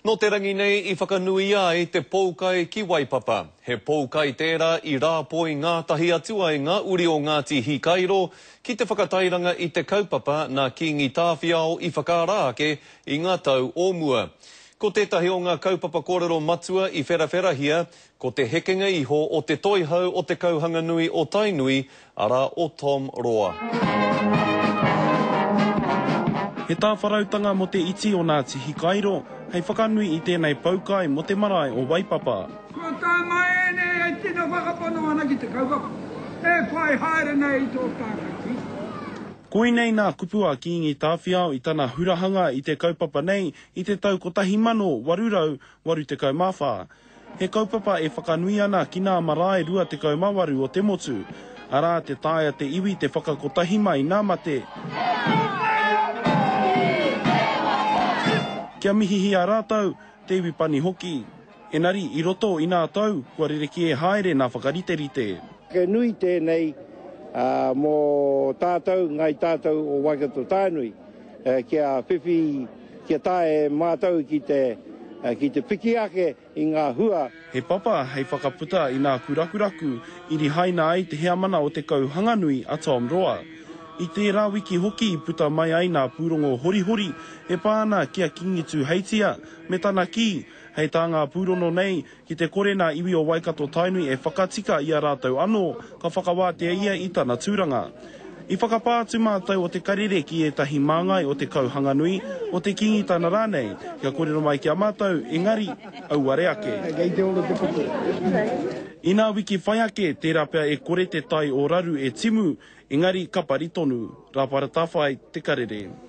Nō te rangi nei i whakanuia ai te poukai ki Waipapa. He poukai tērā i rāpoi ngātahi atu ai ngā uri o Ngāti Hikairo ki te whakatairanga i te kaupapa nā Kīngi Tāwhiao i whakaara ake i ngā tau o mua. Ko tētahi o ngā kaupapa kōrero matua i wherawherahia Ko te hekenga iho o te toihau o Te Kauhanganui o Tainui, arā, o Tom Roa. He tāwharautanga mō te iti o Ngāti Hikairo hei whakanui i tēnei poukai mō te marae o Waipapa. Kua tānga ēnei e tino whakapono ana ki te kaupapa e whai haere nei i tō tānga ki. Koinei nā kupu a Kīngi Tāwhiao i tana hurahanga i te kaupapa nei i te tau 1884. He kaupapa e whakanui ana ki nā marae 28 o te motu, arā, te taea te iwi te whakakotahi mai nā mate. Kia mihihia rātou, te iwi pani hoki. Enari, i roto i nā tau, kua rerekē haere nā whakariterite. He nui tēnei mō tātou, Ngāi Tātou o Waikato-Tainui, kia whiwhi. Kia tae mātou ki te, ki te piki ake i ngā hua. He papa hei whakaputa i nā kurakuraku i rihaina ai te heamana o Te Kauhanganui a Tom Roa. I tērā wiki hoki i puta mai ai nā pūrongo horihori e pā ana ki a Kingi Tūheitia me tana kī, hei tā ngā pūrono nei Ki te kore nā iwi o Waikato-Tainui e whakatika i a rātou anō, ka whakawātea ia i tana tūranga. I whakapā atu mātou o Te Karere ki ētahi māngai o Te Kauhanganui, o Te Kingitana rānei, kia kōrero mai ki a mātou, engari, auare ake. Inā wiki whai ake, tērā pea e kore te tai o raru e timu, engari, ka pari tonu. Rāpara Tawhai, Te Karere.